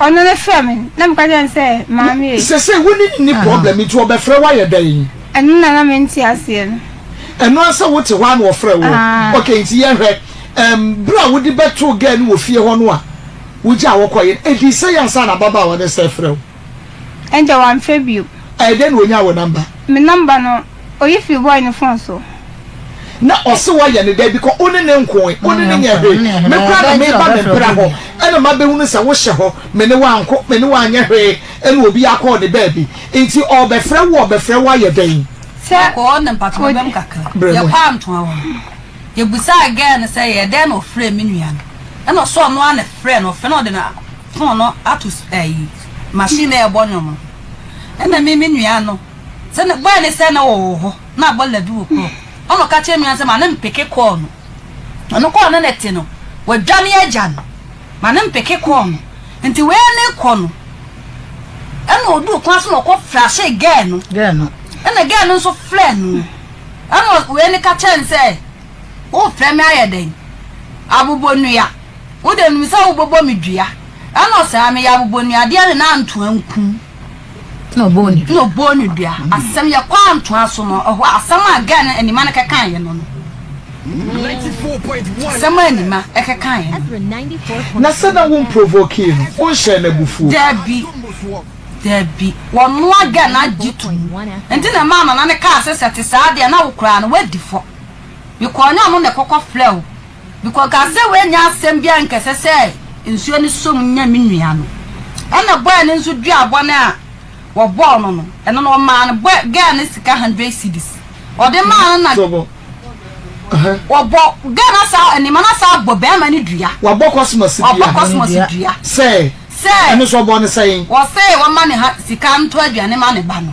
Ɔno no frɛ me na meka kyerɛ no sɛ maame e. Sesei wo ne no nni problem nti ɔbɛfrɛ wo ayɛ dɛn? Ɛno na na mente aseɛ no. Ɛno ara sɛ wote hɔ ara na ɔfrɛ wo? Aah. Ok nti yɛnhwɛ, ɛɛm berɛ a wode bɛtoo girl no wɔ fie hɔ no a wogyaa wo kɔeɛ no, ɛdii sɛn ansa na ababaawa no sane frɛ wo? Ɛnde wamfrɛ bio. Ɛyɛ dɛn na ɔnyaa wo number? Me number no. Oyi firi boy no phone so. Na ɔse wayɛ ne dɛn bikɔ one ne nkoe one ne nyɛ hwee me koraa na meba me mpra hɔ ɛna mabɛhunu sɛ wohyɛ hɔ mene wo anko mene wo anyɛ hwee ɛna obi akɔ ne baabi nti ɔɔbɛfrɛ wo ɔɔbɛfrɛ wo ayɛ dɛn. Yɛkɔ hɔ ne mpatrɔ bɛm kakra yɛkɔ antoa hɔ no yɛbusaa girl no sɛ yɛ dɛn na ɔfrɛɛ me nua no ɛna ɔse ɔno ara na ɛfrɛɛ no ɔfrɛ no ɔde ne phone no ato ɛyi machine na ɛɛbɔ nwom no ɛna me me nua no Sɛ na bɔɛ ne sɛ na wɔwɔ hɔ na abɔ labi wɔ korɔ ɔna ɔka kyerɛ nua no sɛ ma ne mpeke kɔɔ no ɔno kɔɔ ne nɛte no wadwane agya no ma ne mpeke kɔɔ no nti wei ne kɔ no ɛna ɔduu kwan so na ɔkɔ flahyee gɛɛ no ɛna gɛɛ no nso flɛɛ no ɛna wei ne ka kyerɛ no sɛ wofrɛ me ayɛ dɛn abobɔ nua wode nim sɛ wobɔbɔ me dua ɛna ɔsɛ a meyɛ abobɔ nua adeɛ ne na antoa nkum na ɔbɔɔ no dua. Asɛm yɛ kɔ a ntoa so no, ɛhɔ asɛm a gɛɛ no Anima no kɛkaeɛ no no. Asɛm a Anima kɛkaeɛ no. Na sɛ na wo mprovokee no, wo nhyɛɛ no abufuo. Daabi, daabi, wɔnoa gɛɛ no agye to mu. Nti na ɛmaa Nana no kaa sɛ, sɛ ɛte saa deɛ na wo koraa no, woadi fɔ. Mekɔɔ nyɛ ɔno na ɛkɔkɔ frɛɛ wo. Mekɔ Gaza woannya asɛm biara nkɛsɛ sɛ nsuo no som nya me nua no ɛna boy no nso dua bɔne a wɔbɔɔ no no ɛno no wɔmaa no boy girl no sika hundred cedis wɔde maa no na wɔbɔ girl no asaa anima no asaa bɔ bɛrima no dua wɔabɔ kɔsmɔs dua wɔabɔ kɔsmɔs dua sɛ sɛ ɛno nso wɔbɔ no sɛn wɔsɛ wɔma ne ha sika nto aduane ma ne ba no.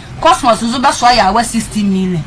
Cosmos nso bɛsoa yaawa sixty million.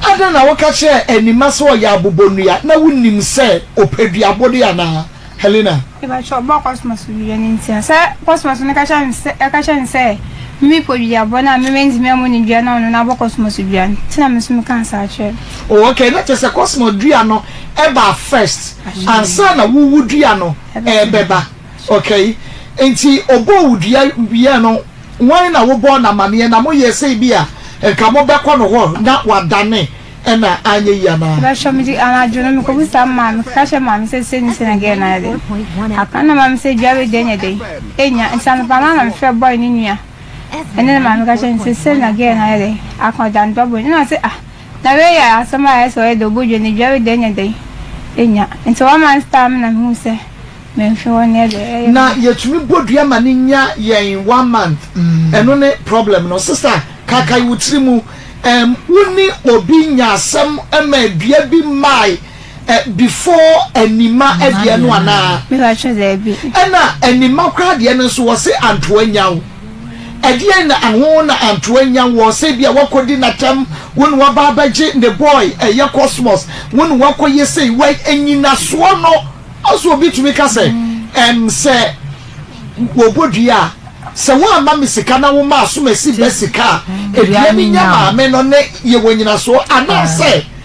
Adɛn na woka kyerɛɛ Anima sɛ ɔyɛ abobonnua? Na wunnim sɛ ɔpɛ duabode anaa? Helena. Mepakyɛ ɔbɔɔ Cosmos wie no ntia sɛ Cosmos no ka kyerɛ no sɛ ɛka kyerɛ no sɛ mimi pɔ duabɔ no a me mentumi ɛmmo no dua na ɔno na abɔ Cosmos dua no nti na me nso mekaa saa kyerɛ no. Oh okay na kyerɛ sɛ Cosmos dua no ɛbaa first ansa na wo wo dua no ɛɛbɛba. Okay, nti ɔbɔɔ wo dua wieɛ no wan na wo bɔɔ no amaneɛ na mo yɛɛ sɛ ebia nka mo bɛkɔ no hɔ na wadane ɛna anyɛ yie anaa? Bɛhwɛ me de anadwo no mekɔ bisa me maame meka kyerɛ maame sɛ sei ne sei na girl no ayɛ dɛn aka ɛna maame sɛ dua wei deɛ nyɛ dɛn ɛnya nti anɔpa no na mefrɛ boy no nua ɛne ne maame ka kyerɛ no sɛ sei na girl no ayɛ dɛn aka ɔda ne ba bɔ ne na ɔse ah Na wei yɛ asɛm a ɛyɛ sɛ ɔyɛ dɛ obodwo ne dware dɛn ne dɛn anya. Enti wɔn man star me na mehuu sɛ memfe hɔ neɛ deɛ ɛyɛ me Na dɛ. yɛtumi bɔ dua ma no nya yɛn one month ɛno ne problem no sister kaakae wo tiri mu ɛmm wone obi nya asɛm ɛma dua bi mae. Ɛ, before Anima deɛ no anaa? Me pakyɛ daabi. Ɛna Anima koraa deɛ no nso wɔse Antoa Nyaw. Ɛdeɛn na ɛho na Antoa Nyaw wɔ sɛ ebia woakɔdi n'atɛm, wo na woaba abɛgye ne boy ɛyɛ Cosmos, wo na woakɔ yɛ sei, wai, anyinasoɔ no nso obi tumi ka sɛ ɛm sɛ wɔbɔ dua a, sɛ woamma me sika na woma Asomasi ba sika a, dua no nya maame no ne yɛwɔ nyinasoɔ anaasɛ.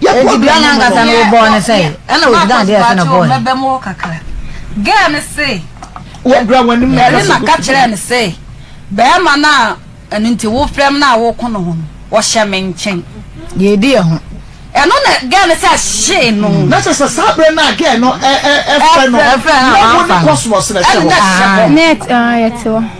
Enti bia nankasa no wobɔɔ no sɛe ɛna wogyina adeɛ ɛsɛ na bɔɔ no. Girl no se Yarima ka kyerɛɛ no se bɛɛma no a ɛno nti wo frɛm no a woko no ho no ɔhyɛ me nkyen. Deɛ ɛdi yɛ ho. Ɛno na girl no sɛ hyee no. Na kyerɛ sɛ saa berɛ no a girl no ɛfrɛ no na wo ne kɔsmɔs na ɛhyɛ hɔ. Net ah yɛte hɔ.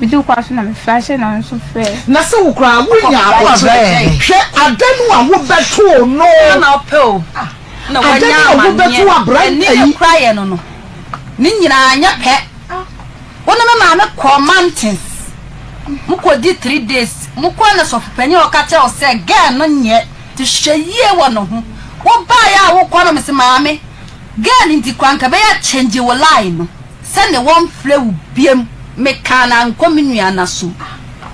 Mitu kwan so na mefrɛ ahyɛ na wo nso frɛ. Na sɛ wo koraa wonya aboterɛ, hwɛ adanu a wobɛtoo no. Hena na ɔpɛ o na wanya amaneɛ? Ani a ekura yɛn no no, ne nyinaa anyɛ pɛ. Wo ne me maame kɔɔ mountains, mo kɔdi three days, mo kɔɔ na sɔfo panyin a ɔka kyerɛ wo sɛ girl no nyɛ te hwɛ yie wɔ ne ho. Wo baeɛ a wo kɔ no me se maame girl nti koraa nka bɛyɛ change wo line no. Sɛ ne wɔ nfrɛ wo biam. Me kaa na nkɔ me nua na so a.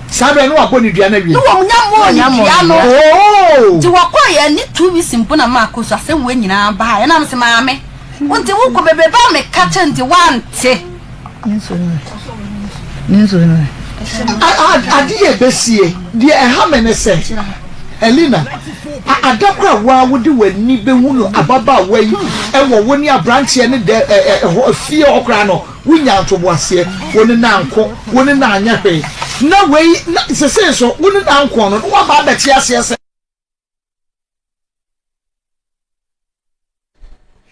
Saa berɛ no wa bɔ ne dua no awie. Ne wɔm nya mɔɔ ne dua no. Ooh. Nti wɔ kɔɔ yɛ ne two weeks mpo na ma kɔ so asɛm wei nyinaa baa yɛ na me se maame wo nti wo kɔ bebrebe a me ka kyɛ nti wa nte. Ne nsuo no ɛ ne nsuo no ɛ. Adeɛ a ɛbɛsie, deɛ ɛha me ne sɛ, Helena. A Ada koro a wo ara wode w'ani bɛhunu ababaawa yi wɔ wo ne aberanteɛ no da hɔ fie hɔ koraa no, wonyaa ntoboaseɛ. Wo ne no anko, wo ne no anyɛ hwee. Na wei, na seesei nso wo ne no anko no, na woaba abɛte aseɛ sɛ.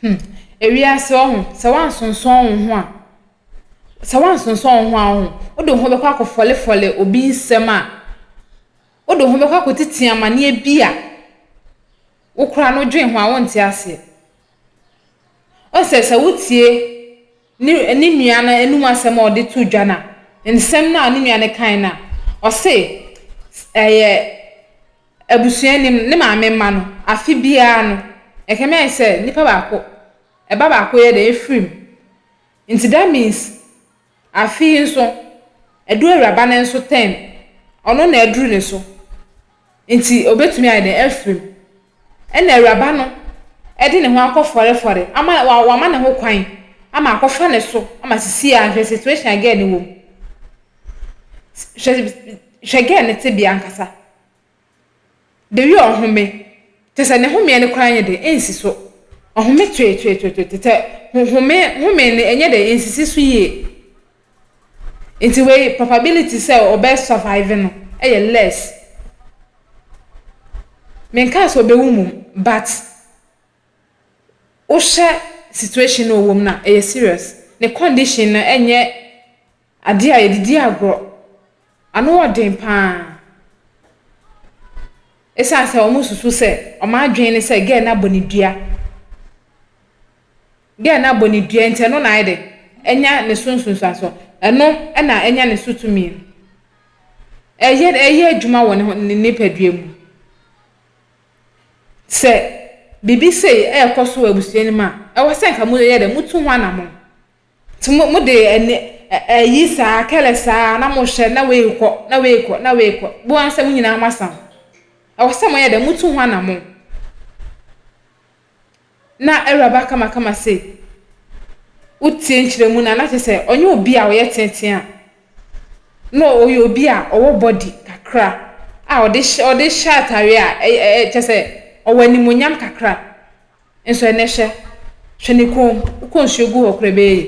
Hmm, ewiase ɔho, sɛ woannsonsɔn wo ho a, sɛ woannsonsɔn wo ho a ɔho, wode wo ho bɛkɔ akɔfɔlefɔle obi nsɛm a, wode wo ho bɛkɔ akɔtsitsi amaneɛ bi a wo koraa no dwen ho a wonntse aseɛ. Ɔsɛ sɛ wotsie. Ne ne nua no anom asɛm a ɔde too dwa no a, nsɛm no a ne nua no kae no a, ɔse ɛyɛ abusua anim, ne maame mma no, afe biara no, ɛkame ayɛ sɛ nipa baako, ɛba baako yɛ dɛn, efiri mu. Nti that means afe yi nso, adu awuraba no nso turn, ɔno na aduru ne so. Nti obetumi ayɛ dɛn, afiri mu. Ɛnna awuraba no de ne ho akɔfɔrefɔre ama wama ne ho kwan ama akɔfa ne so ama sisi a hwɛ situation a girl no wɔ mu. Hwɛ hwɛ girl no tebea ankasa. The way ɔhome, kyerɛ sɛ ne homeɛ no koraa nyɛ dɛ, ɛnsi so. Ɔhome tweetweetweetwe te sɛ ho home home no ɛnyɛ dɛ, ɛnsisi so yie. Ntsi wei probability sɛ ɔbɛ survive no yɛ less. Mennkaa sɛ obewu mbom but wohwɛ situation no a ɔwɔ mu no a ɛyɛ serious. Ne condition no nnyɛ ade a yɛdze dzi agorɔ. Ano wɔ den paa. Esiane sɛ wɔsusu sɛ wɔn adwene ne sɛ girl no abɔ no dua. Dɛn na bɔ ne dua nti ɛno na ayɛ dɛ anya ne so nsunsuansoɔ? Ɛno na anya ne so tumi no. Ɛyɛ ɛyɛ adwuma wɔ ne ho ne nipadua mu. Sɛ biribi sei ɛrekɔ so wɔ abusua no mu a, ɛwɔ sɛ nka moyɛ dɛ motu ho anamɔn. Nti mo mode ɛne ɛ ɛyi saa kɛlɛ saa na mohwɛ na wei rekɔ na wei rekɔ na wei rekɔ. Bohu ara sɛ mo nyinaa moasa ho. Ɛwɔ sɛ moyɛ dɛ motu ho anamɔn. na Awuraba Kamakama se wotsie nkyerɛmu no a, na kyerɛ sɛ ɔnnyɛ obi a ɔyɛ tsentsen a, nna ɔyɛ obi a ɔwɔ body kakra a ɔde hyɛ ɔde hyɛ atare a ɛy ɛ ɛ kyerɛ sɛ ɔwɔ animuonyam kakra. Nso ɛnnɛ hwɛ, hwɛ ne kɔn mu, wokɔ nsuo gu hɔ koraa ɛbɛyɛ yie.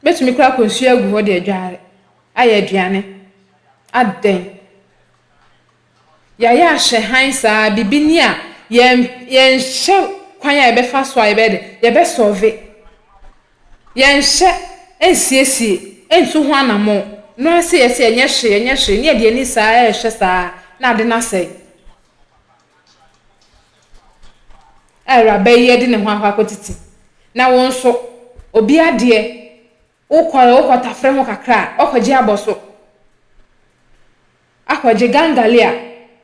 Wobɛtumi koraa akɔ nsuo agu hɔ de adware, ayɛ aduane, adɛn. Yɛayɛ ahyɛ hann saa, biribi ni a, yɛn, yɛnhyɛ kwan a yɛbɛfa so a yɛbɛyɛ dɛ, yɛbɛsɔlve, yɛnhyɛ, ɛnsiesie, ɛntu ho anamɔn, no ara se yɛse yɛnyɛ hwee, yɛnyɛ hwee, ne yɛde ani saa ara rehwɛ saa ara, na ade no asɛe. A awuraba yi de ne ho akɔ akɔtete, na wo nso, obi adeɛ. Wokɔ a, wokɔ tafere ho kakra a, woakɔgye abɔso, akɔgye gangalee a,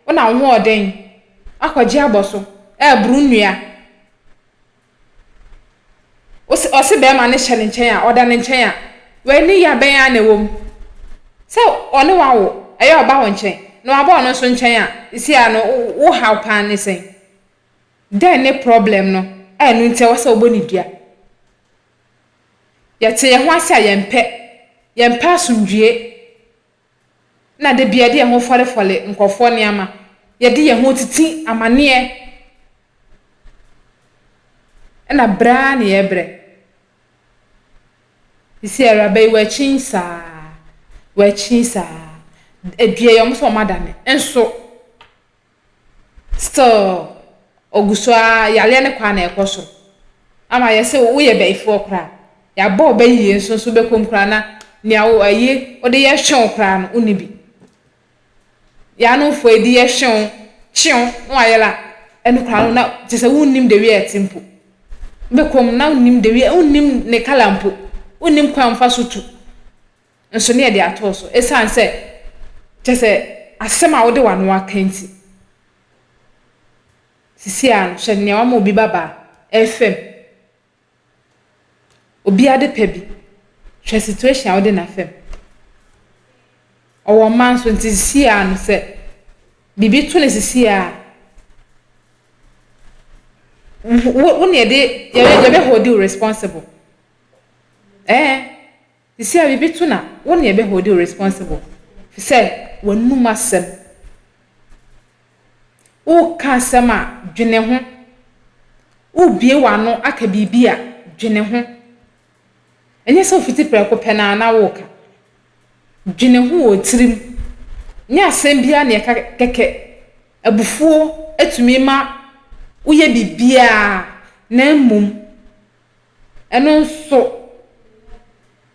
wonam hoɔden akɔgye abɔso, ɛɛboro nnua. Wose ɔse bɛɛma no hyɛ ne nkyɛn a, ɔda ne nkyɛn a, w'ani ya bɛn ara na ɛwɔ mu. Sɛ ɔne w'awo, ɛyɛ ɔba wo nkyɛn, na w'aba ɔno nso nkyɛn a, seisei ara no wo haw paa ara ne sɛn? Dɛn ne problem no a ɛno nti ɛwɔ sɛ wobɔ no dua? Yɛte yɛn ho ase a yɛmpɛ. Yɛmpɛ asomdwoe na da biara yɛde yɛn ho fɔrefɔre nkurɔfoɔ nneɛma. Yɛde yɛn ho titi amaneɛ na brɛ ara na yɛbrɛ. Seesei awuraba yi wakyin saa, wakyin saa. Dua yi wɔn nso wɔadane nso. still ogu so ara yareɛ no kɔ a na ɛkɔ soro ama yɛ sɛ woyɛ bɛyifoɔ koraa yɛabɔ ɔbɛ yie nso nso bɛkɔ mu koraa na nea wo ɛyi wode yɛ hwew koraa no wonni bi yɛanomfoɔ ɛdi yɛ hwew kyew na wayɛ la ɛno koraa no na kyɛ sɛ wonnim de wie ɛte mpo wobɛkɔ mu na wonnim de wie wonnim ne kala mpo wonnim kwan mfa so tu nso ne yɛde atoo so esiane sɛ, kyerɛ sɛ, asɛm a wode w'ano aka nti. Seesei ara no, hyɛ nea wama obi babaa ɛrefɛm obi ade pa bi. Hwɛ situation a wode no afɛm. Ɔwɔ mma nso nti seesei ara no sɛ biribi to no seesei ara a, wo na yɛde, yɛbɛhɔldi wo responsible. Ɛɛ. Te sɛ biribi to na wo na yɛbɛ hold wo responsible fi sɛ w'anum asɛm. Wo ka asɛm a, dwene ho. Wo bue w'ano aka biribi a, dwene ho. Ɛnyɛ sɛ wo fiti prɛko pɛ no ara na wo ka. Dwene ho wɔ tirim. Nyɛ asɛm biara na yɛka kɛkɛ. Abufuo tumi ma wo yɛ biribiara na mmom Ɛno nso,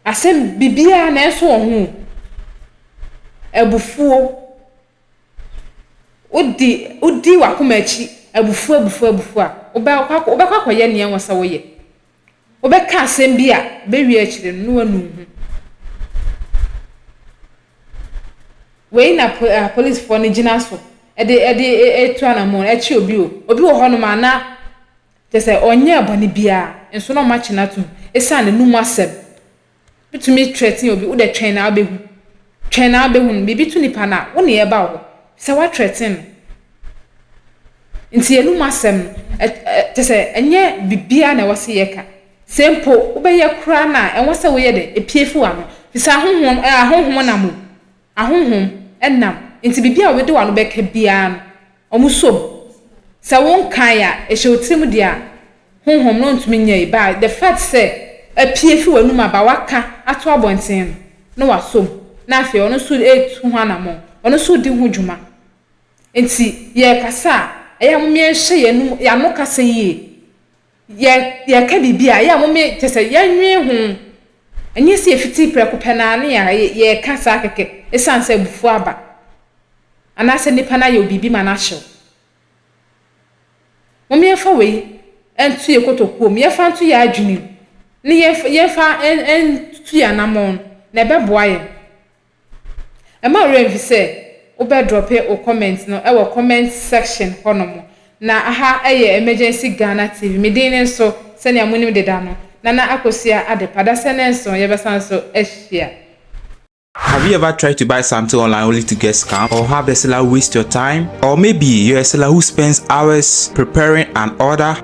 asɛm biribiara nanso ɔho abufuo. Wodi wodi w'akoma akyi abufuo abufuo abufuo a, wobɛkɔ akɔ wobɛkɔ akɔyɛ nea ɛwɔ sɛ woyɛ. Wobɛka asɛm bi a, bɛwie akyire no na woanu wo ho. Wei na po apolisifoɔ no gyina so de de tu anammɔn kye obi o. Obi wɔ hɔnom a na. Kyerɛ sɛ, ɔnyɛɛ bɔne biara, nso na wɔakye no atom esiane n'anom asɛm. Wotumi threaten obi, wo de twɛn na wubehu, twɛn na wubehu no. Biribi to nipa no a, wo ne ɛba wo hɔ sɛ woathreaten no. Enti anom asɛm no, ɛ ɛ kyerɛ sɛ, ɛnyɛ biribiara na ɛwɔ sɛ yɛka. Sɛ mpo wobɛyɛ koraa no a, ɛwɔ sɛ woyɛ dɛn? Epue fi w'ano, efisɛ ahonhom, ɛ ahonhom nam o. Ahonhom nam, enti biribiara a wobɛde w'ano bɛka biara no, wɔsɔ mu. Sɛ wonkae a, ɛhyɛ wo tirim deɛ a honhom no ntumi nyɛe, but the fact sɛ apue firi w'anom aba, waka ato abɔnten no, na wasɔ mu, na afei ɔno nso retu ho anammɔn, ɔno nso redi ho dwuma. Enti yɛrekasa a, ɛyɛ a momma yɛnhyɛ yɛn ano kasa yie. Yɛ yɛka biribi a, ɛyɛ a mome kyɛ sɛ yɛnnwen ho. Ɛnyɛ sɛ yɛfiti prɛko pɛ no ara ne yɛ yɛ yɛka saa kɛkɛ esiane sɛ abufuo aba anaasɛ nipa no ayɛ wo biribi ma no ahye wo. Mome yɛmfa wei nto yɛ kotokuo mu, yɛmfa nto yɛ adwene mu, ne yɛmfa yɛmfa ntutu yɛ anammɔn no, na ɛbɛboa yɛn. Mma wo werɛ mfi sɛ wobɛ drɔpe wo comment no wɔ comment section hɔ nom. Na aha yɛ Emergency Ghana TV, me din ne nso sɛnea monim deda no, Nana Akosua Adepa. Dasɛ ne nso yɛbɛsan nso ahyia. Have you ever tried to buy something online only to get scammed or have the seller waste your time? Or maybe you're a seller who spends hours preparing an order.